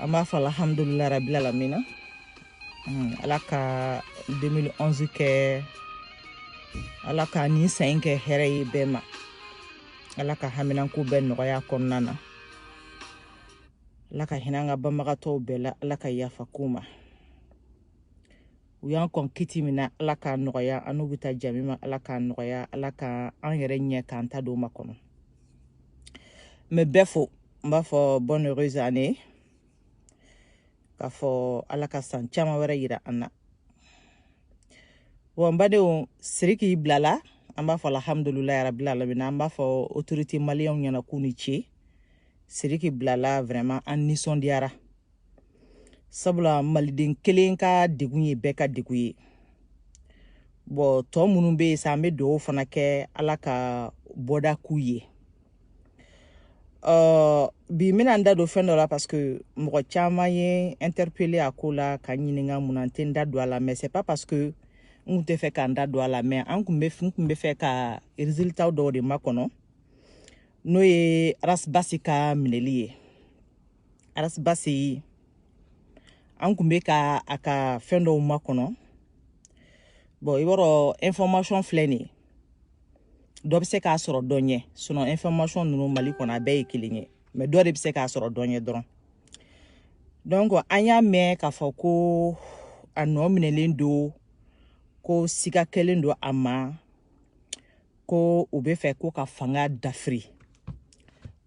an b'a fɔ alhamdulilayi rabil alamina hmm, ala ka 2011 kɛ ala ka nin san in kɛ hɛrɛ ye bɛɛ ma ala ka haminanko bɛɛ nɔgɔya kɔnɔna na ala ka hinɛ an ka banbagatɔw bɛɛ la ala ka yafa k'u ma u y'an kɔn kiti min na ala k'a nɔgɔya an n'u bɛ taa jami ma ala k'a nɔgɔya ala ka an yɛrɛ ɲɛ k'an ta don makɔnɔ n bɛ bɛɛ fo n b'a fɔ bonne heureuse année k'a fɔ ala ka san caman wɛrɛ yira an na wa n badenw siriki bilala an b'a fɔ alhamdulilayi rabil alamin an b'a fɔ autorité maliyɛnw ɲɛna k'u ni ce siriki bilala vraiment an nisɔndiyara sabula maliden kelen ka degun ye bɛɛ ka degun ye bɔn tɔ minnu bɛ yen sa an bɛ dugawu fana kɛ ala ka bɔda k'u ye uh, bi n bɛna n da don fɛn dɔ la parce que mɔgɔ caman ye n interpellé a ko la ka n ɲininka mun na n tɛ n da don a la mais c'est pas parce que n kun tɛ fɛ ka n da don a la mais an kun bɛ fɛ ka résultat dɔw de makɔnɔ n'o ye arasibasi ka minɛli ye arasibasi an kun bɛ ka a ka fɛn dɔw makɔnɔ bɔn i b'a sɔrɔ information filɛ nin ye dɔ bɛ se k'a sɔrɔ dɔ ɲɛ sinɔn information ninnu mali kɔnɔ a bɛɛ ye kelen ye mɛ dɔ de bɛ se k'a sɔrɔ dɔ ɲɛ dɔrɔn donc an y'a mɛn k'a fɔ ko a nɔ minɛlen don ko siga kɛlen don a ma ko u bɛ fɛ ko ka fanga dafiri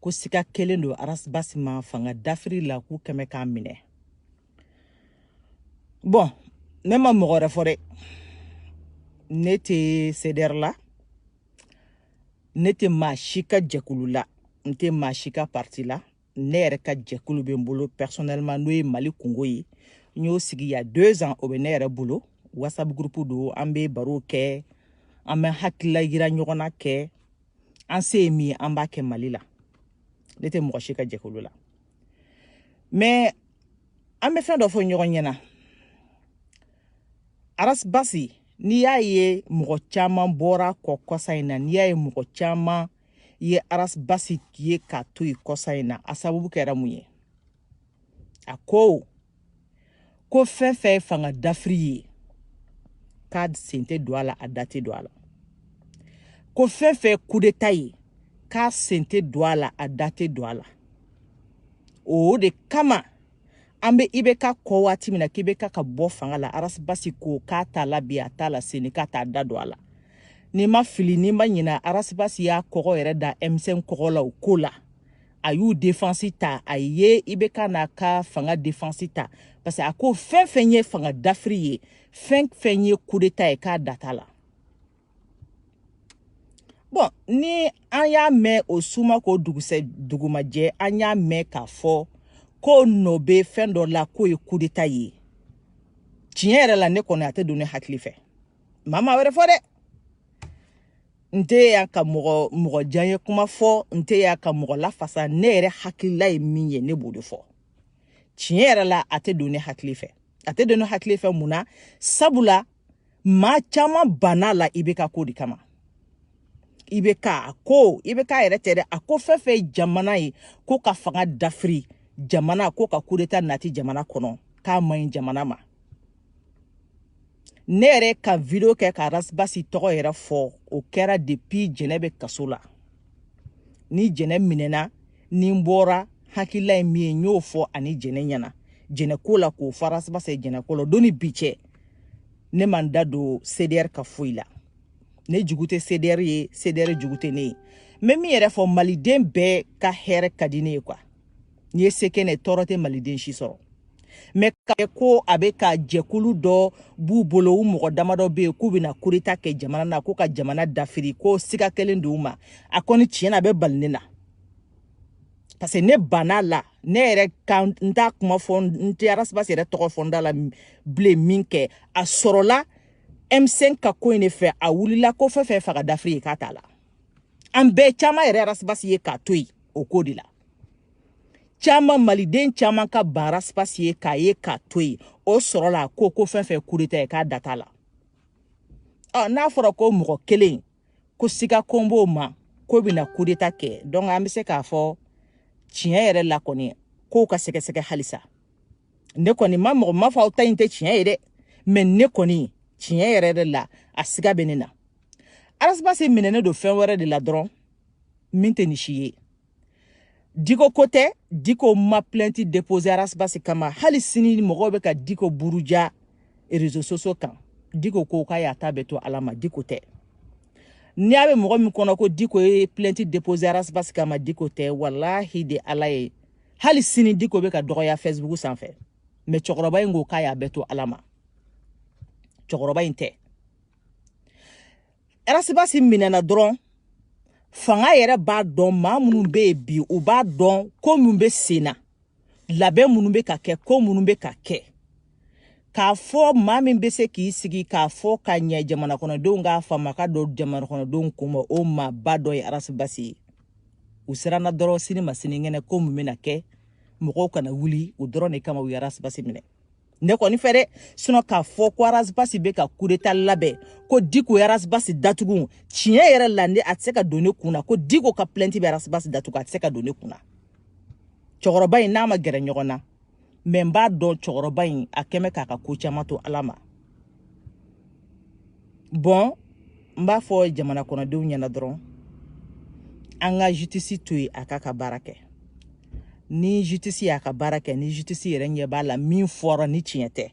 ko siga kɛlen don arasibasi ma fanga dafiri la k'u kɛmɛ k'a minɛ bɔn ne ma mɔgɔ wɛrɛ fɔ dɛ ne tɛ sedɛri la ne tɛ maa si ka jɛkulu la n tɛ maa si ka parti la ne yɛrɛ ka jɛkulu bɛ n bolo personnellement n'o ye mali kunko ye n y'o sigi y a deux ans o bɛ ne yɛrɛ bolo whatsapp groupe don an bɛ barow kɛ an bɛ hakilila yira ɲɔgɔn na kɛ an se ye min ye an b'a kɛ mali la ne tɛ mɔgɔ si ka jɛkulu la mais an bɛ fɛn dɔ fɔ ɲɔgɔn ɲɛna arasibasi n'i y'a ye mɔgɔ caman bɔra a kɔ kɔsa in na n'i y'a ye mɔgɔ caman ye arasibasi ye k'a to yen kɔsa in na a sababu kɛra mun ye a ko ko fɛn fɛn ye fanga dafiri ye k'a sen tɛ don a la a da tɛ don a la ko fɛn fɛn ye kudeta ye k'a sen tɛ don a la a da tɛ don a la o de kama an bɛ ibk ko waati min na k'ibk ka bɔ fanga la arasibasi ko k'a t'a la bi a t'a la sini k'a t'a da don a la ni n ma fili ni n ma ɲina arasibasi y'a kɔgɔ yɛrɛ da m5 kɔgɔ la o ko la a y'u defansi ta a ye ibk n'a ka fanga defansi ta parce que a ko fɛn fɛn ye fanga dafiri ye fɛn fɛn ye kudeta ye k'a da t'a la bɔn ni an y'a mɛn o su ma ko dugu ma jɛ an y'a mɛn k'a fɔ k'o nɔ bɛ fɛn dɔ la k'o ye kudeta ye tiɲɛ yɛrɛ la ne kɔni a tɛ don ne hakili fɛ n ma maa wɛrɛ fɔ dɛ n tɛ yan ka mɔgɔ diyanye kuma fɔ n tɛ yan ka mɔgɔ lafasa ne yɛrɛ hakilila ye min ye ne b'o de fɔ tiɲɛ yɛrɛ la a tɛ don ne hakili fɛ a tɛ don ne hakili fɛ mun na sabula maa caman banna a la ibk ko de kama ibk a ko ibk yɛrɛ tɛ dɛ a ko fɛn fɛn ye jamana ye ko ka fanga dafiri jamana ko ka kudeta nati jamana kɔnɔ k'a man ɲi jamana ma ne yɛrɛ ka video kɛ ka rasbasi tɔgɔ yɛrɛ fɔ o kɛra depuis jɛnɛ bɛ kaso la ni jɛnɛ minɛna ni n bɔra n hakilila ye min ye n y'o fɔ ani jɛnɛ ɲɛna jɛnɛ ko la k'o fɔ arasibasi ye jɛnɛ ko la don ni bi cɛ ne ma n da don cdr ka foyi la ne jugu tɛ cdr ye cdr jugu tɛ ne ye n bɛ min yɛrɛ fɔ maliden bɛɛ ka hɛrɛ ka di ne ye kuwa n'i ye se kɛ n ye tɔɔrɔ tɛ maliden si sɔrɔ mɛ ka kɛ ko a bɛ ka jɛkulu dɔ b'u bolo u mɔgɔ damadɔ bɛ yen k'u bɛna kudeta kɛ jamana na ko ka jamana dafiri ko siga kɛlen don u ma a kɔni tiɲɛ na a bɛ bali ne na parce que ne banna a la ne yɛrɛ ka n t'a kuma fɔ n tɛ arasibasi yɛrɛ tɔgɔ fɔ n da la bilen min kɛ a sɔrɔla m5 ka ko in de fɛ a wulila ko fɛn fɛn fanga dafiri ye k'a t'a la an bɛɛ caman yɛrɛ arasibasi ye k'a to yen o ko de la caman maliden caman ka ban arasibasi ye k'a ye k'a to yen o sɔrɔla ko ko fɛn fɛn kudeta ye k'a da t'a la ɔ n'a fɔra ko mɔgɔ kelen ko siga kun b'o ma k'o bɛna kudeta kɛ donc an bɛ se k'a fɔ tiɲɛ yɛrɛ la kɔni kow ka sɛgɛsɛgɛ halisa ne kɔni ma mɔgɔ ma fɔ aw ta in tɛ tiɲɛ ye dɛ mɛ ne kɔni tiɲɛ yɛrɛ de la a siga bɛ ne na arasibasi minɛnen don fɛn wɛrɛ de la dɔrɔn min tɛ nin si ye diko ko tɛ diko ma plɛnti depose arasibasi kama hali sini mɔgɔw bɛ ka diko buruja rezo sosiyo kan diko ko k'a y'a ta bɛɛ to ala ma diko tɛ ni a bɛ mɔgɔ min kɔnɔ ko diko ye plɛnti depose arasibasi kama diko tɛ walahi de ala ye hali sini diko bɛ ka dɔgɔya fɛsibuku sanfɛ mɛ cɛkɔrɔba in ko k'a y'a bɛɛ to ala ma cɛkɔrɔba in tɛ Arasibasi minɛna dɔrɔn fanga yɛrɛ b'a dɔn maa minnu bɛ yen bi u b'a dɔn ko minnu bɛ sen na labɛn minnu bɛ ka kɛ ko minnu bɛ ka kɛ k'a fɔ maa min bɛ se k'i sigi k'a fɔ ka ɲɛ jamanakɔnɔdenw k'a faamu ka don jamanakɔnɔdenw kun ma o maaba dɔ ye arasibasi ye u siranna dɔrɔn sini ma sinikɛnɛ ko mun bɛna kɛ mɔgɔw kana wuli o dɔrɔn de kama u ye arasibasi minɛ ne kɔni fɛ dɛ sinɔ k'a fɔ ko arasibasi bɛ ka kudeta labɛn ko diko ye arasibasi datugu tiɲɛ yɛrɛ la ne a tɛ se ka don ne kun na ko diko ka plɛnti bɛ arasibasi datugu a tɛ se ka don ne kun na cɛkɔrɔba in n'a ma gɛrɛ ɲɔgɔn na mɛ n b'a dɔn cɛkɔrɔba in a kɛmɛ k'a ka ko caman to ala ma bɔn n b'a fɔ jamana kɔnɔdenw ɲɛna dɔrɔn an ka jutisi to yen a k'a ka baara kɛ ni jutisi y'a ka baara kɛ ni jutisi yɛrɛ ɲɛ b'a la min fɔra ni tiɲɛ tɛ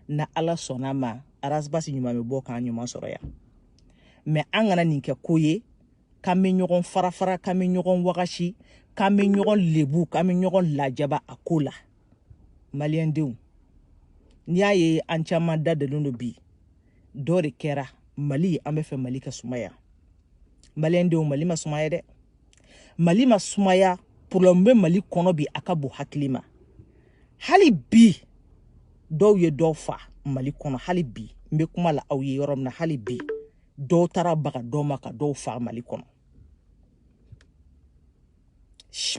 n'ala sɔnna ma arasibasi ɲuman bɛ bɔ k'an ɲuman sɔrɔ yan mɛ an kana nin kɛ ko ye k'an bɛ ɲɔgɔn farafara k'an bɛ ɲɔgɔn wagasi k'an bɛ ɲɔgɔn lebu k'an bɛ ɲɔgɔn lajaba a ko la maliyɛn denw n'i y'a ye an caman da dalen don bi dɔ de kɛra mali an b'a fɛ mali ka sumaya maliyɛn denw mali ma sumaya dɛ mali ma sumaya problème bɛ mali kɔnɔ bi a ka bon hakili ma hali bi dɔw ye dɔw fa mali kɔnɔ hali bi n bɛ kuma la aw ye yɔrɔ min na hali bi dɔw taara baga dɔw ma ka dɔw fa mali kɔnɔ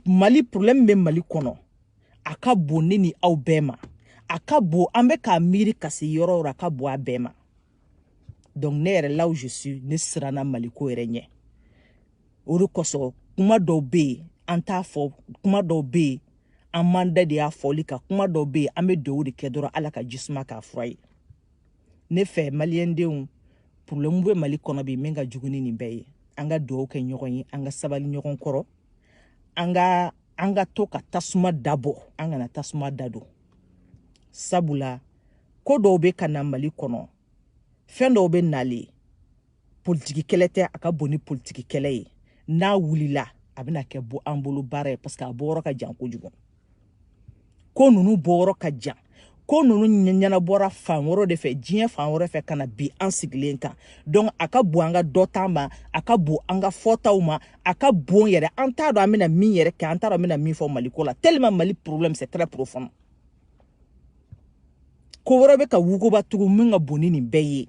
mali problème bɛ mali kɔnɔ a ka bon ne ni aw bɛɛ ma a ka bon an bɛ k'a miiri ka se yɔrɔ o yɔrɔ a ka bon a bɛɛ ma donc ne yɛrɛ là où je suis ne siranna maliko yɛrɛ ɲɛ o de kosɔn kuma dɔw bɛ yen an t'a fɔ kuma dɔw bɛ yen an man da de y'a fɔli kan kuma dɔw bɛ yen an bɛ dugawu de kɛ dɔrɔn ala ka jisuma k'a fura ye ne fɛ maliyɛndenw problème bɛ mali kɔnɔ bi min ka jugu ni nin bɛɛ ye an ka dugawu kɛ ɲɔgɔn ye an ka sabali ɲɔgɔn kɔrɔ an ka an ka to ka tasuma dabɔ an kana tasuma dadon sabula ko dɔw bɛ ka na mali kɔnɔ fɛn dɔw bɛ nalen politiki kɛlɛ tɛ a ka bon ni politiki kɛlɛ ye n'a wulila a bɛna kɛ bɔ an bolo baara ye parce que a bɔyɔrɔ ka jan kojugu ko ninnu bɔyɔrɔ ka jan ko ninnu ɲɛnabɔra fan wɛrɛ de fɛ diɲɛ fan wɛrɛ fɛ ka na bin an sigilen kan donc a ka bon an ka dɔnta ma a ka bon an ka fɔtaw ma a ka bon yɛrɛ an t'a dɔn an bɛna min yɛrɛ kɛ an t'a dɔn an bɛna min fɔ mali ko la tellement mali problème c'est très profond ko wɛrɛ bɛ ka wuguba tugun min ka bon ni nin bɛɛ ye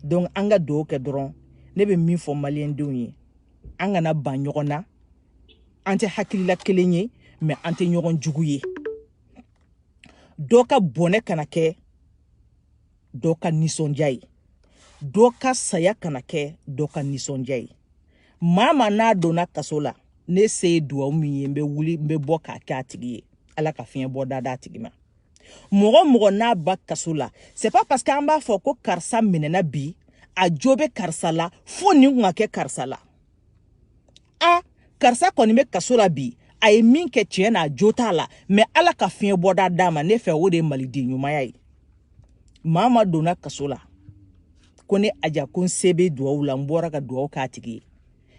donc an ka dugawu kɛ dɔrɔn ne bɛ min fɔ maliyɛndenw ye an kana ban ɲɔgɔn na an tɛ hakilila kelen ye mais an tɛ ɲɔgɔn jugu ye dɔ ka bɔnɛ kana kɛ dɔ ka nisɔndiya ye dɔ ka saya kana kɛ dɔ ka nisɔndiya ye maa maa n'a donna kaso la ne se ye duwawu min ye n bɛ wuli n bɛ bɔ k'a kɛ a tigi ye ala ka fiɲɛ bɔda d'a tigi ma mɔgɔ mɔgɔ n'a ba kaso la c'est pas parce que an b'a fɔ ko karisa minɛna bi a jo bɛ karisa la fo nin kun ka kɛ karisa la a karisa kɔni bɛ kaso la bi a ye min kɛ tiɲɛ n'a jo t'a la mais ala ka fiɲɛ bɔda d'a ma ne fɛ o de ye maliden ɲumanya ye maa maa donna kaso la ko ne aja ko n se bɛ duwawu la n bɔra ka duwawu k'a tigi ye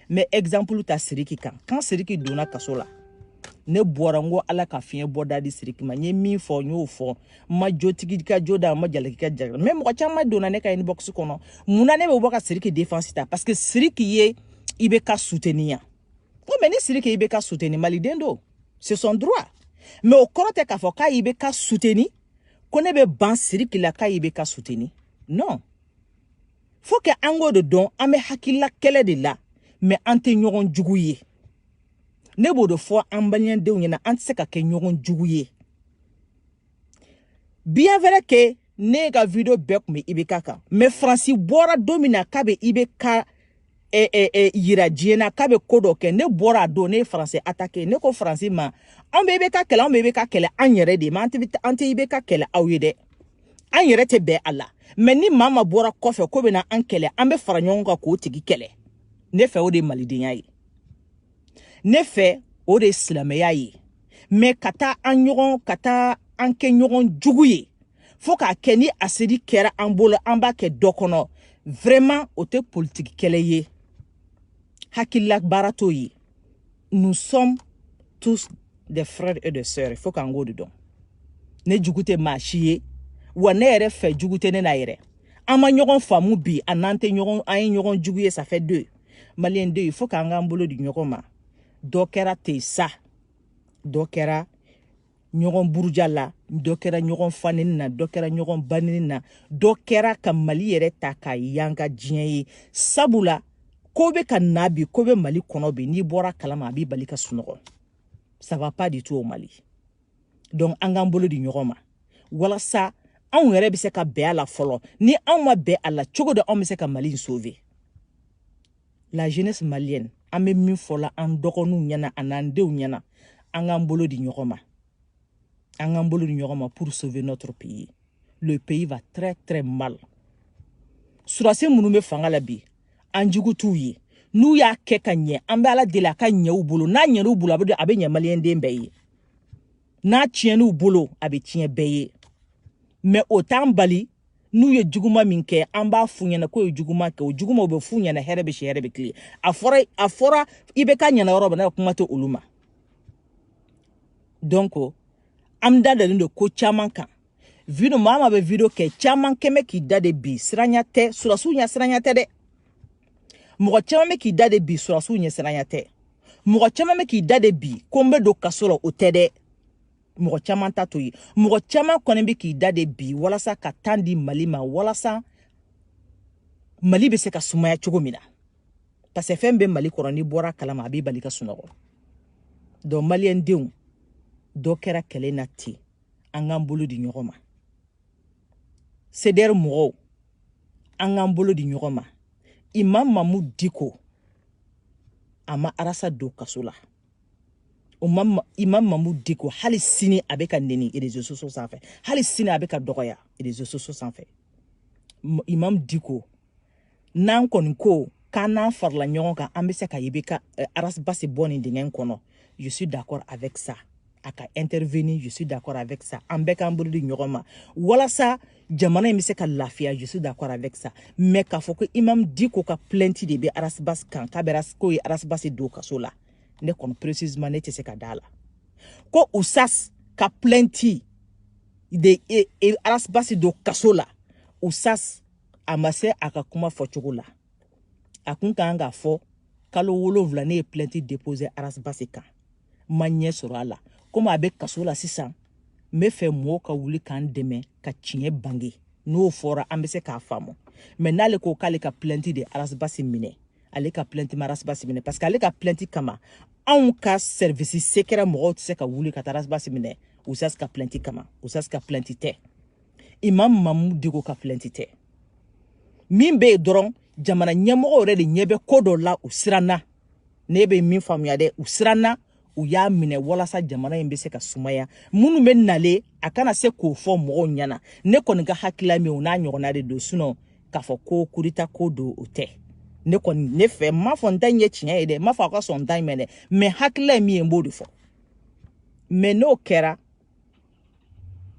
n bɛ exemple ta siriki kan quand siriki donna kaso la ne bɔra n ko ala ka fiɲɛ bɔda di siriki ma n ye min fɔ n y'o fɔ n ma jotigi ka jo da n ma jalaki ka jalaki mais mɔgɔ caman donna ne ka inbox kɔnɔ mun na ne bɛ bɔ ka siriki défense ta parce que siriki ye ibk suteni yan ko mais ni siriki ye ibk suteni maliden don c'est son droit mais o kɔrɔ tɛ k'a fɔ k'a ye ibk suteni ko ne bɛ ban siriki la k'a ye ibk suteni non faut que an k'o de dɔn an bɛ hakilila kɛlɛ de la mais an tɛ ɲɔgɔn jugu ye ne b'o de fɔ an balimadenw ɲɛna an tɛ se ka kɛ ɲɔgɔn jugu ye bien vrai que ne ka video bɛɛ kun bɛ ibk kan mais faransi bɔra don min na k'a bɛ ibk eh, eh, eh, yira diɲɛ na k'a bɛ ko dɔ kɛ ne bɔra a don ne ye faransi atake ne ko faransi ma anw bɛ ibk kɛlɛ anw bɛ ibk kɛlɛ an yɛrɛ de ma an tɛ ibk kɛlɛ aw ye dɛ an yɛrɛ tɛ bɛn a la mais ni maa maa bɔra kɔfɛ ko bɛna an kɛlɛ an bɛ fara ɲɔgɔn kan k'o tigi kɛlɛ ne fɛ o de ye malidenya ye ne fɛ o de ye silamɛya ye mais ka taa an ɲɔgɔn ka taa an kɛ ɲɔgɔn jugu ye fo k'a kɛ ni asedi kɛra an bolo an b'a kɛ dɔ kɔnɔ vraiment o tɛ politiki kɛlɛ ye hakilila baara t'o ye nous sommes tous des frères et des sœurs fo k'an k'o de dɔn ne jugu tɛ maa si ye wa ne yɛrɛ fɛ jugu tɛ ne na yɛrɛ an ma ɲɔgɔn faamu bi a n'an tɛ ɲɔgɔn an ye ɲɔgɔn jugu ye ça fait deux maliyɛn de il faut k'an k'an bolo di ɲɔgɔn ma dɔ kɛra ten sa dɔ kɛra ɲɔgɔn buruja la dɔ kɛra ɲɔgɔn fa neni na dɔ kɛra ɲɔgɔn ba neni na dɔ kɛra ka mali yɛrɛ ta k'a yanga diɲɛ ye sabula ko bɛ ka na bi ko bɛ mali kɔnɔ bi n'i bɔra a kalama a b'i bali ka sunɔgɔ ça va pas du tout au mali donc an k'an bolo di ɲɔgɔn ma walasa anw yɛrɛ bɛ se ka bɛn a la fɔlɔ ni anw ma bɛn a la cogo di anw bɛ se ka mali in sauver la jeunesse malienne an bɛ min fɔ la an dɔgɔninw ɲɛna a n'an denw ɲɛna an k'an bolo di ɲɔgɔn ma an k'an bolo di ɲɔgɔn ma pour sauver notre pays le pays va très très mal surasi minnu bɛ fanga la bi an jugu t'u ye n'u y'a kɛ ka ɲɛ an bɛ ala deli a ka ɲɛ u bolo n'a ɲɛn'u bolo a bɛ ɲɛ maliyɛnden bɛɛ ye n'a tiɲɛn'u bolo a bɛ tiɲɛ bɛɛ ye mais o t'an bali n'u ye juguma min kɛ an b'a f'u ɲɛna k'o ye juguma kɛ o juguma o bɛ f'u ɲɛna hɛrɛ bɛ si hɛrɛ bɛ tilen a fɔra a fɔra ibeka ɲɛna yɔrɔ min na kuma tɛ olu ma donc an da dalen don ko caman kan video maa ma bɛ video kɛ caman kɔni bɛ k'i da de bi siranya tɛ surasiw ɲɛsiranya tɛ dɛ mɔgɔ caman bɛ k'i da de bi surasiw ɲɛsiranya tɛ mɔgɔ caman bɛ k'i da de bi ko n bɛ don kaso la o tɛ dɛ mɔgɔ caman ta t'o ye mɔgɔ caman kɔni bɛ k'i da de bi walasa ka temps di mali ma walasa mali bɛ se ka sumaya cogo min na parce que fɛn bɛ mali kɔrɔ n'i bɔr'a kalama a b'i bali ka sunɔgɔ donc maliyɛndenw dɔ kɛra kɛlɛ na ten an k'an bolo di ɲɔgɔn ma sedɛri mɔgɔw an k'an bolo di ɲɔgɔn ma imam mamu diko a ma arasi don kaso la imam mamu diko hali sini a bɛ ka neni réseaux sociaux sanfɛ hali sini a bɛ ka dɔgɔya réseaux sociaux sanfɛ imam diko n'an kɔni ko k'an n'an farala ɲɔgɔn kan an bɛ se ka ibeka eh, arasibasi bɔ nin dingɛ kɔnɔ je suis d'accord avec ça a ka intervenir je suis d'accord avec ça an bɛɛ k'an bolo di ɲɔgɔn ma walasa jamana in bɛ se ka lafiya je suis d'accord avec ça mais k'a fɔ ko imam diko ka plainte de bɛ arasibasi kan k'a bɛ k'o ye arasibasi don kaso la ne kɔni précisément ne tɛ se ka d'a la ko usas ka plainte de e, e, arasibasi don kaso la usas a ma se a ka kuma fɔcogo la a kun ka kan k'a fɔ kalo wolonwula ne ye plainte déposer arasibasi kan n ma ɲɛ sɔrɔ a la komi a bɛ kaso la sisan n b'a fɛ mɔgɔw ka wuli k'an dɛmɛ ka tiɲɛ bange n'o fɔra an bɛ se k'a faamu mais n'ale ko k'ale ka plainte de arasibasi minɛ ale ka plainte ma arasibasi minɛ parce que ale ka plainte kama anw ka service secret mɔgɔw tɛ se ka wuli ka taa arasibasi minɛ usas ka plainte kama usas ka plainte tɛ imam mamu diko ka plainte tɛ min bɛ yen dɔrɔn jamana ɲɛmɔgɔ yɛrɛ de ɲɛ bɛ ko dɔ la u siranna ne bɛ min faamuya dɛ u siranna u y'a minɛ walasa jamana in bɛ se ka sumaya minnu bɛ nale a kana se k'o fɔ mɔgɔw ɲɛna ne kɔni ka hakilila min o n'a ɲɔgɔnna de don sinɔn k'a fɔ ko kurita ko don o tɛ ne kɔni ne fɛ n m'a fɔ n ta in ye tiɲɛ ye dɛ n m'a fɔ aw ka sɔn n ta in ma dɛ mɛ hakilila ye min ye n b'o de fɔ mɛ n'o kɛra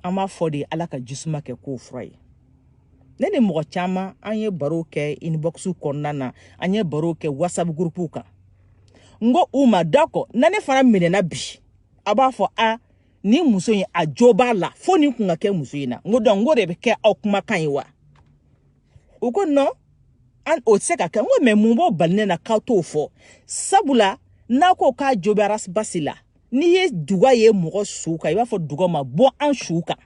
an b'a fɔ de ala ka jisuma kɛ ko fura ye ne ni mɔgɔ caman an ye baro kɛ inbox kɔnɔna na an ye baro kɛ whatsapp groupe kan n ko u ma dakɔ ni ne fana minɛna bi a b'a fɔ a ni muso in a jo b'a la fo nin kun ka kɛ muso in na n ko donc n ko de bɛ kɛ aw kumakan ye wa u ko nɔn an o tɛ se ka kɛ n ko mɛ mun b'o bali ne na k'aw t'o fɔ sabula n'a ko k'a jo bɛ ras bath la n'i ye duga ye mɔgɔ su kan i b'a fɔ duga ma bɔ an su kan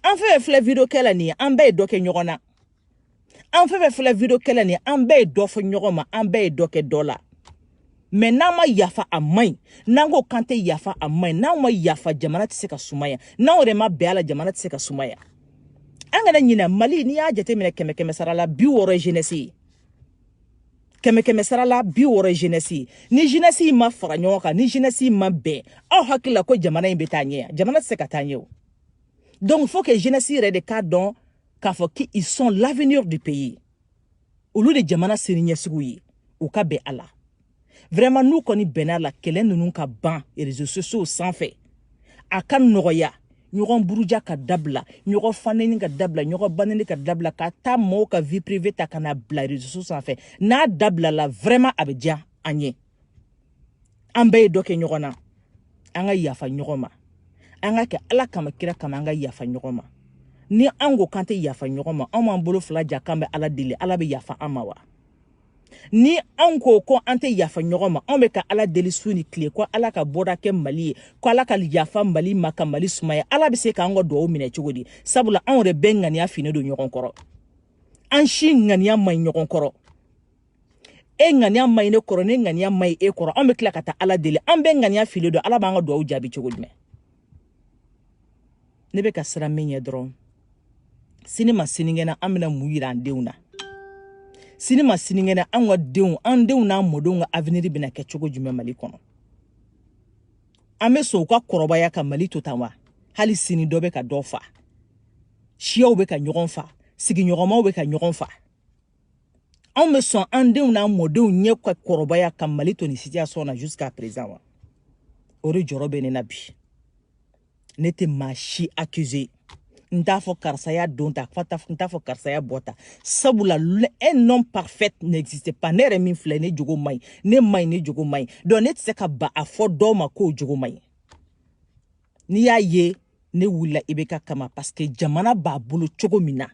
an fɛn fɛn filɛ video kɛ la nin ye an bɛɛ ye dɔ kɛ ɲɔgɔn na an fɛn fɛn filɛ video kɛ la nin ye an bɛɛ ye dɔ fɔ ɲɔgɔn ma an bɛɛ ye dɔ kɛ dɔ la mɛ n'an ma yafa a man ɲi n'an ko k'an tɛ yafa a man ɲi n'anw ma yafa jamana tɛ se ka sumaya n'anw yɛrɛ ma bɛn a la jamana tɛ se ka sumaya an kana ɲinɛ mali n'i y'a jateminɛ kɛmɛ kɛmɛ sara la bi wɔɔrɔ ye jeunesse ye kɛmɛ kɛmɛ sara la bi wɔɔrɔ jenɛsi ni jenɛsi ma fara ɲɔgɔn kan ni jenɛsi ma bɛn aw hakili la ko jamana in bɛ taa ɲɛ jamana tɛ se ka taa ɲɛ o donc faut que jenɛsi yɛrɛ de k'a dɔn k'a fɔ qu'ils sont l'avenir du pays olu de jamana sini ɲɛsigiw ye u ka bɛn a la vraiment n'u kɔni bɛnn'a la kɛlɛ ninnu ka ban réseaux sociaux sanfɛ a ka nɔgɔya ɲɔgɔn buruja ka dabila ɲɔgɔn faneni ka dabila ɲɔgɔn baneni ka dabila ka taa mɔɔw ka vie privée ta ka na bila réseaux sociaux sanfɛ n'a dabilala vraiment a bɛ diya an ye an bɛɛ ye dɔ kɛ ɲɔgɔn na an ka yafa ɲɔgɔn ma an ka kɛ ala kama kira kama an ka yafa ɲɔgɔn ma ni an ko k'an tɛ yafa ɲɔgɔn ma anw b'an bolo fila ja k'an bɛ ala deli ala bɛ yafa an ma wa ni anw ko ko an tɛ yafa ɲɔgɔn ma anw bɛ ka ala deli su ni tile ko ala ka bɔda kɛ mali ye ko ala ka yafa mali ma ka mali sumaya ala bɛ se k'an ka dugawu minɛ cogo di sabula anw yɛrɛ bɛɛ ŋaniya finnen don ɲɔgɔn kɔrɔ an si ŋaniya man ɲi ɲɔgɔn kɔrɔ e ŋaniya man ɲi ne kɔrɔ ne ŋaniya man ɲi e kɔrɔ anw bɛ tila ka taa ala deli an bɛɛ ŋaniya finnen don ala b'an ka dugawu jaabi cogo jumɛn ne bɛ ka siran min ɲɛ dɔrɔn sini ma sinikɛnɛ an bɛna mun yira an denw na sini ma sinikɛnɛ an ka denw an denw n'an mɔdenw ka avenir bɛna kɛ cogo jumɛn mali kɔnɔ an bɛ sɔn u ka kɔrɔbaya ka mali to tan wa hali sini dɔ bɛ ka dɔ fa siyaw bɛ ka ɲɔgɔn fa sigiɲɔgɔnmaw bɛ ka ɲɔgɔn fa anw bɛ sɔn an denw n'an mɔdenw ɲɛ ka kɔrɔbaya ka mali to nin situation na jusqu'à présent wa o de jɔrɔ bɛ ne na bi ne tɛ maa si accuse n t'a fɔ karisa y'a don ta n t'a fɔ karisa y'a bɔ ta sabula un homme parfait n'existe pas ne yɛrɛ min filɛ ne jogo man ɲi ne man ɲi ne jogo man ɲi donc ne tɛ se ka ba a fɔ dɔw ma k'o jogo man ɲi n'i y'a ye ne wulila ibk kama parce que jamana b'a bolo cogo min na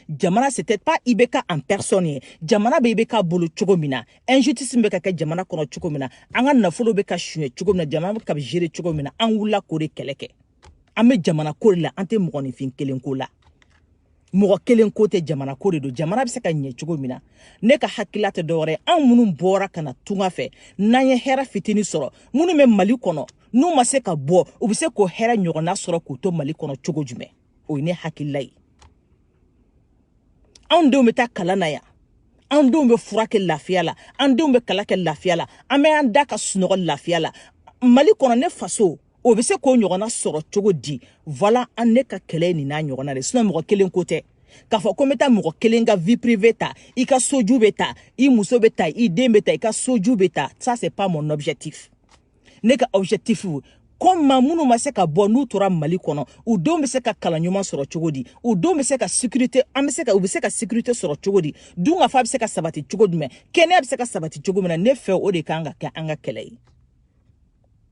jamana c'était pas ibk en personne ye jamana bɛ ibk bolo cogo min na injustice bɛ ka kɛ jamana kɔnɔ cogo min na an ka nafolo bɛ ka suɲɛ cogo min na jamana bɛ ka gérer cogo min na an wulila k'o de kɛlɛ kɛ an bɛ jamana ko de la an tɛ mɔgɔninfin kelen ko la mɔgɔ kelen ko tɛ jamana ko de don jamana bɛ se ka ɲɛ cogo min na ne ka hakilila tɛ dɔwɛrɛ ye anw minnu bɔra ka na tunga fɛ n'an ye hɛrɛ fitini sɔrɔ minnu bɛ mali kɔnɔ n'u ma se ka bɔ u bɛ se k'o hɛrɛ ɲɔgɔnna sɔrɔ k'u to mali kɔnɔ cogo jumɛn o ye ne hakilila ye anw denw bɛ taa kalan na yan an denw bɛ furakɛ lafiya la an denw bɛ kalan kɛ lafiya la an bɛ an da ka sunɔgɔ lafiya la mali kɔnɔ ne faso o bɛ se k'o ɲɔgɔnna sɔrɔ cogo di voilà an ne ka kɛlɛ nin n'a ɲɔgɔnna de sinon mɔgɔ kelen ko tɛ k'a fɔ ko n bɛ taa mɔgɔ kelen ka vie privée ta i ka soju bɛ ta i muso bɛ ta i den bɛ ta i ka soju bɛ ta ça c'est pas mon objectif ne ka objectif comme minnu ma se ka bɔ n'u tora mali kɔnɔ u denw bɛ se ka kalan ɲuman sɔrɔ cogo di u denw bɛ se ka sécurité an bɛ se ka u bɛ se ka sécurité sɔrɔ cogo di dunkafa bɛ se ka sabati cogo jumɛn kɛnɛya bɛ se ka sabati cogo min na ne fɛ o de kan ka kɛ an ka kɛlɛ ye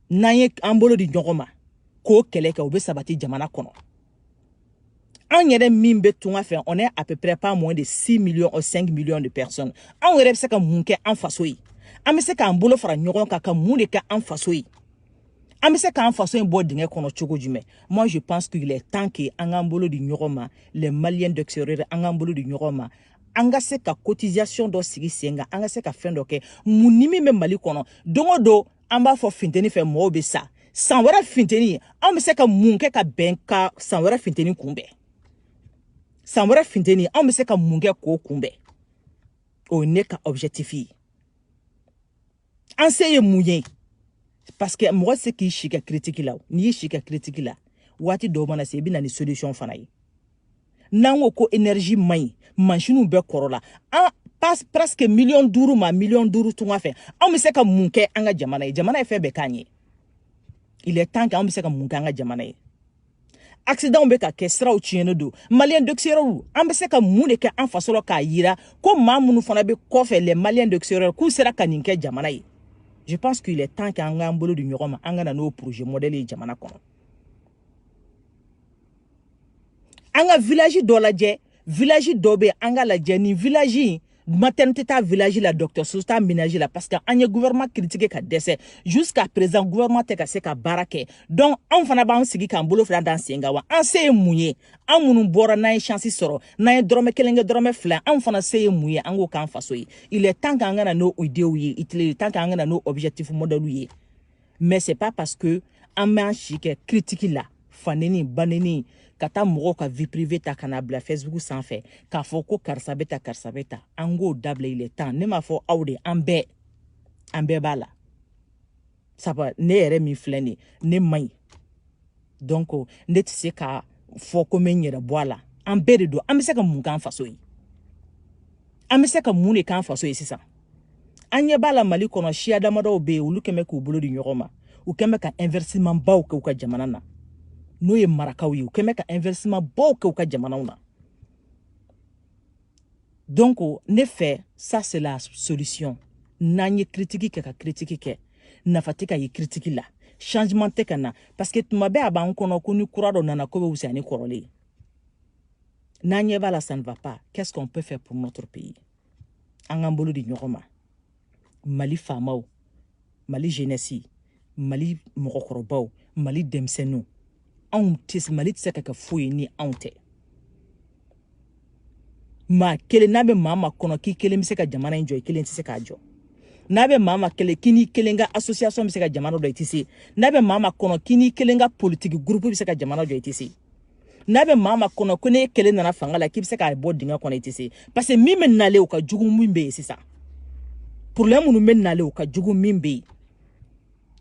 n'an ye an bolo di ɲɔgɔn ma k'o kɛlɛ kɛ o bɛ sabati jamana kɔnɔ anw yɛrɛ min bɛ tunga fɛ on est à peu près pas moins de 6 millions ou 5 millions de personnes anw yɛrɛ bɛ se ka mun kɛ an faso ye an bɛ se k'an bolo fara ɲɔgɔn kan ka mun de kɛ an faso ye an bɛ se k'an faso in bɔ dingɛ kɔnɔ cogo jumɛn moi je pense qu'il est temps que an k'an bolo di ɲɔgɔn ma les maliens d'extérieur an k'an bolo di ɲɔgɔn ma an ka se ka cotisation dɔ sigi sen kan an ka se ka fɛn dɔ kɛ mun ni min bɛ mali kɔnɔ don o don an b'a fɔ finteni fɛ mɔgɔw bɛ sa san wɛrɛ finteni anw bɛ se ka mun kɛ ka bɛn ka san wɛrɛ finteni kunbɛn san wɛrɛ finteni anw bɛ se ka mun kɛ k'o kunbɛn o ye ne ka objectif ye an se ye mun ye parce que mɔgɔ se k'i si kɛ critique la n'i y'i si kɛ critique la waati dɔw mana se i bɛ na ni solution fana ye n'an ko ko énergie man ɲi mansiniw bɛɛ kɔrɔla an bɛ se presque miliyɔn duuru ma miliyɔn duuru tunga fɛ anw bɛ se ka mun kɛ an ka jamana ye jamana ye fɛn bɛɛ k'an ye il est temps que anw bɛ se ka mun kɛ an ka jamana ye accident bɛ ka kɛ siraw tiɲɛnen don maliens d'extérieur an bɛ se ka mun de kɛ an faso la k'a yira ko maa minnu fana bɛ kɔfɛ les maliens d'extérieur k'u sera ka nin kɛ jamana ye je pense qu'il est temps que an k'an bolo di ɲɔgɔn ma an ka na n'o projet modèle ye jamana kɔnɔ an ka village dɔ lajɛ village dɔ bɛ yen an k'a lajɛ nin village in maternité t'a village la dɔgɔtɔrɔso t'a ménage la parce que an ye gouvernement critiqué ka dɛsɛ jusqu'à présent gouvernement tɛ ka se ka baara kɛ donc anw fana b'an sigi k'an bolo fila d'an sen kan wa an se ye mun ye an minnu bɔra n'an ye chance sɔrɔ n'an ye dɔrɔmɛ kelen kɛ dɔrɔmɛ fila anw fana se ye mun ye an k'o k'an faso ye il est temps k'an ka na n'o idew ye il est temps k'an ka na n'o objectif modèle ye mais c'est pas parce que an b'an si kɛ critique la faneni baneni ka taa mɔgɔw ka vie privée ta ka n'a bila facebook sanfɛ k'a fɔ ko karisa bɛ tan karisa bɛ tan an k'o dabila il est temps ne m'a fɔ aw de an bɛɛ an bɛɛ b'a la sabu ne yɛrɛ min filɛ nin ne man ɲi donc ne tɛ se k'a fɔ ko n bɛ n yɛrɛ bɔ a la an bɛɛ de don an bɛ se ka mun k'an faso ye an bɛ se ka mun de k'an faso ye sisan an ɲɛ b'a la mali kɔnɔ siya damadɔw bɛ yen olu kɛn bɛ k'u bolo di ɲɔgɔn ma u kɛn bɛ ka investissement baw kɛ u ka jamana na n'o ye marakaw ye u kɛn bɛ ka investissement baw kɛ u ka jamanaw na donc ne fɛ ça c'est la solution n'an ye kiritiki kɛ ka kiritiki kɛ nafa tɛ ka ye kiritiki la changement tɛ ka na parce que tuma bɛɛ a b'an kɔnɔ ko ni kura dɔ nana ko bɛ wusaya ni kɔrɔlen ye n'an ɲɛ b'a la ça ne va pas qu'est ce qu'on peut faire pour notre pays an k'an bolo di ɲɔgɔn ma mali faamaw mali jenɛsi mali mɔgɔkɔrɔbaw mali denmisɛnninw anw tɛ mali tɛ se ka kɛ foyi ni anw tɛ maa kelen n'a bɛ maa maa kɔnɔ k'i kelen bɛ se ka jamana in jɔ i kelen tɛ se k'a jɔ n'a bɛ maa maa kelen k'i n'i kelen ka association bɛ se ka jamana jɔ i tɛ se n'a bɛ maa maa kɔnɔ k'i n'i kelen ka politiki gurupu bɛ se ka jamana jɔ i tɛ se n'a bɛ maa maa kɔnɔ ko ne kelen nana fanga la k'i bɛ se k'a bɔ dingɛ kɔnɔ i tɛ se parce que min bɛ nalen o ka jugu min bɛ yen sisan problème minnu bɛ nalen o ka jugu min bɛ yen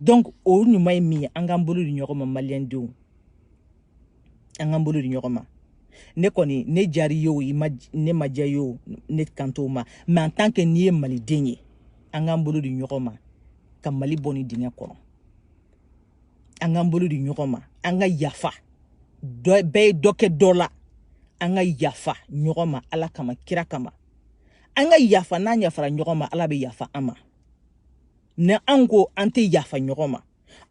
donc o ɲuman ye min ye an k'an bolo di ɲɔgɔn ma maliyɛn denw an k'an bolo di ɲɔgɔn ma ne kɔni ne diyar'i ye o ne ma diya i ye o ne kan t'o ma mais en tant que n'i ye maliden ye an k'an bolo di ɲɔgɔn ma ka mali bɔ nin dingɛ kɔnɔ an k'an bolo di ɲɔgɔn ma an ka yafa bɛɛ ye dɔ kɛ dɔ la an ka yafa ɲɔgɔn ma ala kama kira kama an ka yafa n'an yafara ɲɔgɔn ma ala bɛ yafa an ma ni an ko an tɛ yafa ɲɔgɔn ma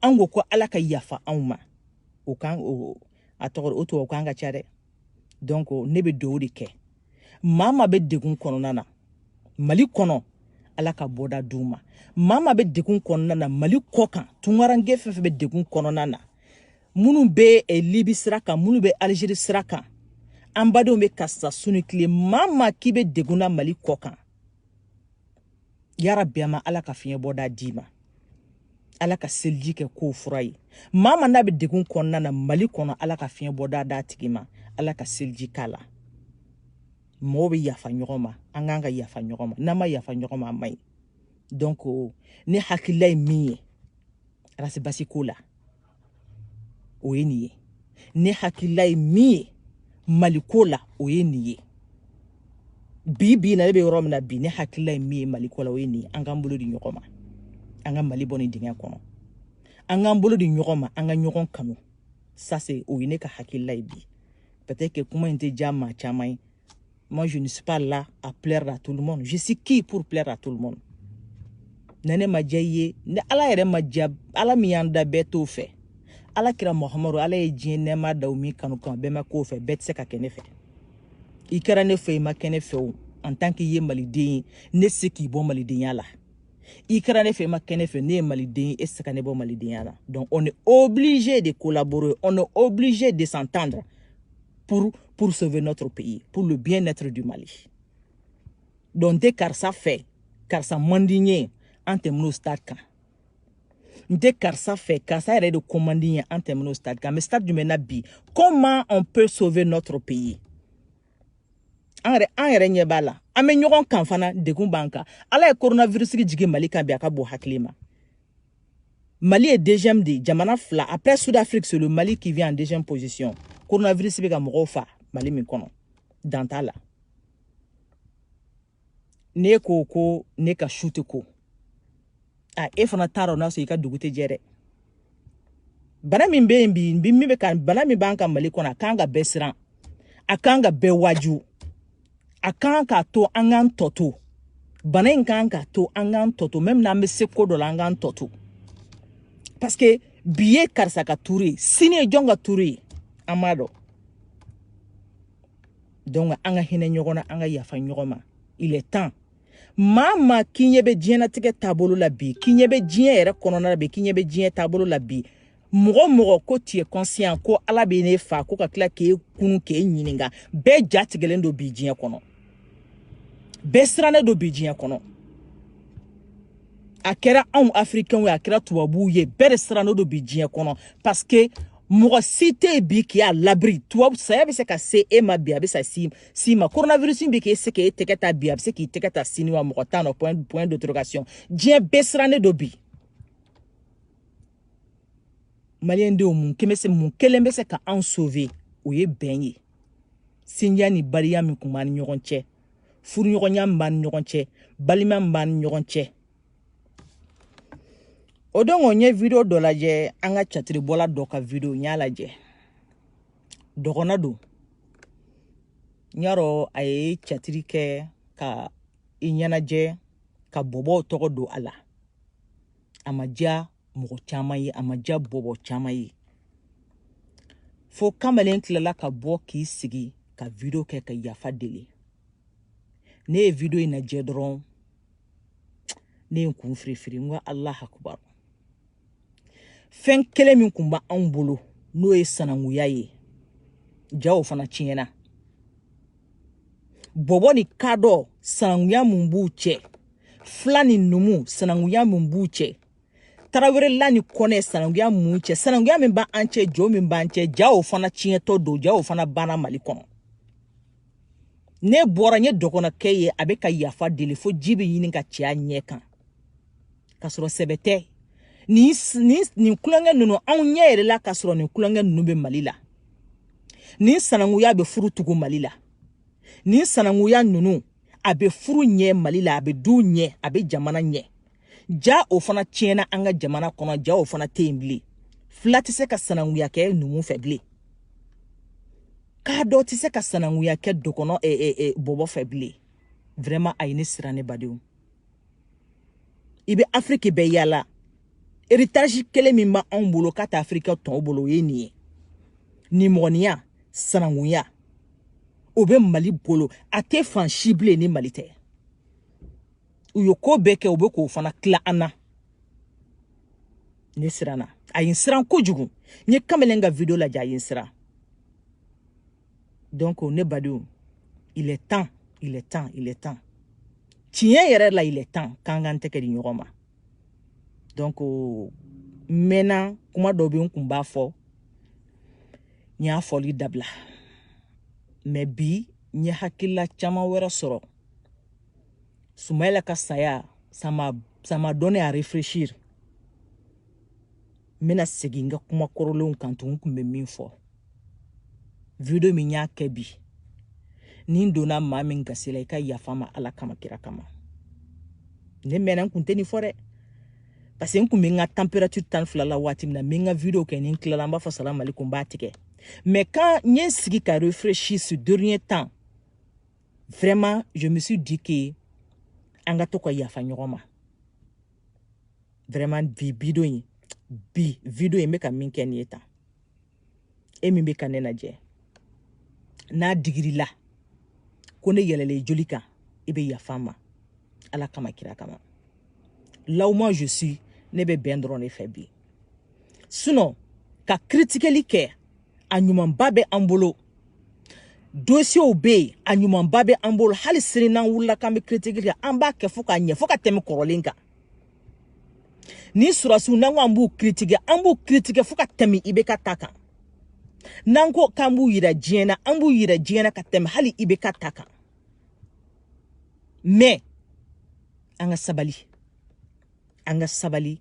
an ko ko ala ka yafa anw ma o kan o a tɔgɔ o tubabu kan ka ca dɛ donc ne bɛ dugawu de kɛ maa maa bɛ degun kɔnɔna na mali kɔnɔ ala ka bɔda d'u ma maa maa bɛ degun kɔnɔna na mali kɔ kan tunkaranke fɛn fɛn bɛ degun kɔnɔna na minnu bɛ eh, libi sira kan minnu bɛ alizeri sira kan an badenw bɛ ka sa su ni tile maa maa k'i bɛ degun na mali kɔ kan yarabi a ma ala ka fiɲɛ bɔda d'i ma ala ka seliji kɛ k'o fura ye maa maa n'a bɛ degun kɔnɔna na mali kɔnɔ ala ka fiɲɛ bɔda d'a tigi ma ala ka seliji k'a la mɔgɔw bɛ yafa ɲɔgɔn ma an k'an ka yafa ɲɔgɔn ma n'an ma yafa ɲɔgɔn ma a man ɲi donc ne hakilila ye min ye Ras Bath ko la o ye nin ye ne hakilila ye min ye maliko la o ye nin ye bi bi na ne bɛ yɔrɔ min na bi ne hakilila ye min ye maliko la o ye nin ye an k'an bolo di ɲɔgɔn ma an ka mali bɔ nin dingɛ kɔnɔ an k'an bolo di ɲɔgɔn ma an ka ɲɔgɔn kanu ça c'est o ye ne ka hakilila ye bi peut-être que kuma in tɛ diya maa caman ye Moi, je ne suis pas là à plaire à tout le monde. Je suis qui pour plaire à tout le monde? na ne ma diya i ye ni ala yɛrɛ ma diya ala min y'an da bɛɛ t'o fɛ ala kira mahamadu ala ye diɲɛ nɛɛma da o min kanu kan bɛɛ ma k'o fɛ bɛɛ tɛ se ka kɛ ne fɛ i kɛra ne fɛ i ma kɛ ne fɛ o en tant qu'i ye maliden ye ne tɛ se k'i bɔ malidenya la i kɛra ne fɛ i ma kɛ ne fɛ ne ye maliden ye e tɛ se ka ne bɔ malidenya la donc on est obligé de collaborer on est obligé de s'entendre pour, pour sauver notre pays, pour le bien-être du Mali. Donc, n tɛ karisa fɛ, karisa man di n ye, an tɛmɛn'o stade kan n tɛ karisa fɛ karisa yɛrɛ de ko man di n ye an tɛmɛn'o stade kan mais stade jumɛn na bi comment on peut sauver notre pays an yɛrɛ an yɛrɛ ɲɛ b'a la an bɛ ɲɔgɔn kan fana degun b'an kan ala ye coronavirus jigin mali kan bi a ka bon hakili ma Mali ye deuxième de jamana fila après Sud Afrique c'est le Mali qui vient en deuxième position coronavirus bɛ ka mɔgɔw fa Mali min kɔnɔ dan t'a la ne ko ko ne ka su tɛ ko a e fana t'a dɔn n'a sɔrɔ i ka dugu tɛ jɛ dɛ bana min bɛ yen bi min bɛ ka bana min b'an ka Mali kɔnɔ a kan ka bɛɛ siran a kan ka bɛɛ waaju a kan k'a to an k'an tɔ to bana in kan k'a to an k'an tɔ to même n'an bɛ se ko dɔ la an k'an tɔ to parce que bi ye karisa ka tuuru ye sini ye jɔn ka tuuru ye an m'a dɔn donc an ka hinɛ ɲɔgɔn na an ka yafa ɲɔgɔn ma il est temps maa maa k'i ɲɛ bɛ diɲɛnatigɛ taabolo la bi k'i ɲɛ bɛ diɲɛ yɛrɛ kɔnɔna la bi k'i ɲɛ bɛ diɲɛ taabolo la bi mɔgɔ mɔgɔ ko tu es conscient ko ala bɛ n'e fa ko ka tila k'e kunu k'e ɲininka bɛɛ ja tigɛlen don bi diɲɛ kɔnɔ bɛɛ sirannen don bi diɲɛ kɔnɔ a kɛra anw afirikɛnw ye a kɛra tubabuw ye bɛɛ de sirannen don bi diɲɛ kɔnɔ parce que mɔgɔ si tɛ yen bi qui est à l'abri tubabu saya bɛ se ka se e ma bi a bɛ sa si si ma coronavirus bɛ k'e se k'e tɛgɛ ta bi a bɛ se k'i tɛgɛ ta sini wa mɔgɔ t'a dɔn point point d'interrogation diɲɛ bɛɛ sirannen don bi. maliyɛn denw mun kelen bɛ se mun kelen bɛ se ka anw sauver o ye bɛn ye sinjiya ni baliya min kun b'an ni ɲɔgɔn cɛ furuɲɔgɔnya min b'an ni ɲɔgɔn cɛ balima min b'an ni ɲɔgɔn cɛ o don ko n ye video dɔ lajɛ an ka catiribɔla dɔ ka video n y'a lajɛ dɔgɔnɔ don n y'a dɔn a ye catiri kɛ ka i ɲɛnajɛ ka bɔbɔw tɔgɔ don a la a ma diya mɔgɔ caman ye a ma diya bɔbɔ caman ye fo kamalen tilala ka bɔ k'i sigi ka video kɛ ka yafa deli ne ye video in lajɛ dɔrɔn ne ye n kun firifiri n ko allah akubar fɛn kelen min kun b'anw bolo n'o ye sananguya ye ja o fana tiɲɛna bɔbɔ ni kadɔ sananguya mun b'u cɛ fila ni numu sananguya mun b'u cɛ tarawelela ni kɔnɛ sananguya mun cɛ sananguya min b'an cɛ jo min b'an cɛ ja o fana tiɲɛtɔ don ja o fana banna mali kɔnɔ ne bɔra n ye dɔgɔnɔkɛ ye a bɛ ka yafa deli fo ji bɛ ɲini ka cɛ a ɲɛ kan ka sɔrɔ sɛbɛ tɛ nin nin nin kulonkɛ ninnu anw ɲɛ yɛrɛ la ka sɔrɔ nin kulonkɛ ninnu bɛ mali la nin sananguya bɛ furu tugu mali la nin sananguya ninnu a bɛ furu ɲɛ mali la a bɛ du ɲɛ a bɛ jamana ɲɛ ja o fana tiɲɛna an ka jamana kɔnɔ ja o fana tɛ yen bilen fila tɛ se ka sananguya kɛ numu fɛ bilen kadɔ tɛ se ka sananguya kɛ dɔgɔnɔ bɔbɔ fɛ bilen vraiment a ye ne siran ne badenw i bɛ afiriki bɛɛ yaala héritage kelen min bɛ anw bolo k'a tɛ afirika tɔw bolo o ye nin ye nimɔgɔninya sanangunya o bɛ mali bolo a tɛ fan si bilen ni mali tɛ u ye ko bɛɛ kɛ u bɛ k'o fana tila an na ne siranna a ye n siran kojugu n ye kamalen ka video lajɛ a ye n siran donc ne badenw il est temps il est temps il est temps tiɲɛ yɛrɛ la il est temps k'an k'an tɛgɛ di ɲɔgɔn ma donc n mɛnna kuma dɔ bɛ n kun b'a fɔ n y'a fɔli dabila mais bi n ye hakilila caman wɛrɛ sɔrɔ sumayila ka saya ça m'a ça m'a donné à réfléchir n bɛna segin n ka kuma kɔrɔlenw kan tun n kun bɛ min fɔ video min y'a kɛ bi ni n donna maa min gasi la i ka yafa n ma ala kama kira kama ne mɛnna n kun tɛ nin fɔ dɛ parce que n kun bɛ n ka température tan fila la waati min na n bɛ n ka video kɛ ni n tilala n b'a fɔ salam alaikum n b'a tigɛ mais quand n ye n sigi ka réfléchir ces derniers temps vraiment je me suis dit que an ka to ka yafa ɲɔgɔn ma vraiment bi video in bi video in n bɛ ka min kɛ nin ye tan e min bɛ ka ne lajɛ n'a digir'i la ko ne yɛlɛla joli kan i bɛ yafa n ma ala kama kira kama là où moi je suis ne bɛ bɛn dɔrɔn de fɛ bi sinon ka kiritikeli kɛ a ɲumanba bɛ an bolo dosiyew bɛ yen a ɲumanba bɛ an bolo hali sini n'an wulila k'an bɛ kiritiki kɛ an b'a kɛ fo k'a ɲɛ fo ka tɛmɛ kɔrɔlen kan ni sɔrɔdasiw n'an ko an b'u kiritike an b'u kiritike fo ka tɛmɛ IBK ta kan n'an ko k'an b'u yira diɲɛ na an b'u yira diɲɛ na ka tɛmɛ hali IBK ta kan mais an ka sabali an ka sabali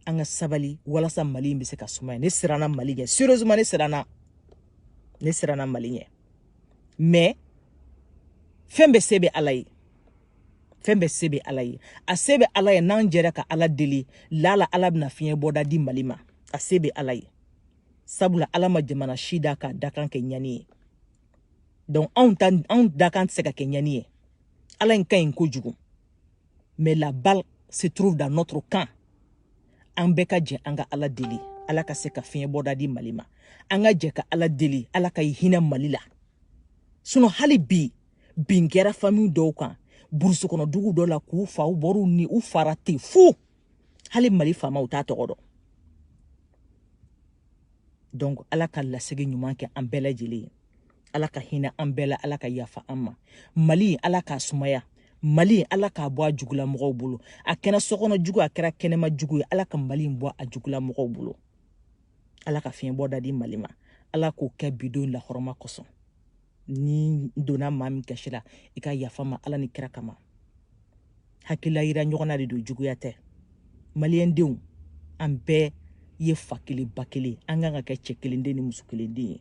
an ka sabali walasa mali in bɛ se ka sumaya ne siranna mali ɲɛ sérieusement ne siranna ne siranna mali ɲɛ mais fɛn bɛɛ se bɛ ala ye fɛn bɛɛ se bɛ ala ye a se bɛ ala ye n'an jɛra ka ala deli lala ala bɛna fiɲɛ bɔda di mali ma a se bɛ ala ye sabula ala ma jamana si da k'a dakan kɛ ɲani ye donc anw ta anw dakan tɛ se ka kɛ ɲani ye ala in ka ɲi kojugu mais la balle se trouve dans notre camp an bɛɛ ka jɛ an ka ala deli ala ka se ka fiɲɛ bɔda di mali ma an ka jɛ ka ala deli ala ka hinɛ mali la sinon hali bi bin kɛra famille dɔw kan burusi kɔnɔ dugu dɔ la k'u faa u bɔr'u ni u faara ten fu hali mali faamaw t'a tɔgɔ dɔn donc ala ka lasegi ɲuman kɛ an bɛɛ lajɛlen ye ala ka hinɛ an bɛɛ la ala ka yafa an ma mali ala k'a sumaya mali ala k'a bɔ a jugula mɔgɔw bolo a kɛra sokɔnɔ jugu a kɛra kɛnɛma jugu ye ala ka mali in bɔ a jugula mɔgɔw bolo ala ka fiɲɛ bɔ da di mali ma ala k'o kɛ bi don lahɔrɔma kosɔn ni n donna maa min gasi la i ka yafa n ma ala ni kira kama hakilila yira ɲɔgɔn na de don juguya tɛ maliyɛn denw an bɛɛ ye fa kelen ba kelen an kan ka kɛ cɛ kelen den ni muso kelen den ye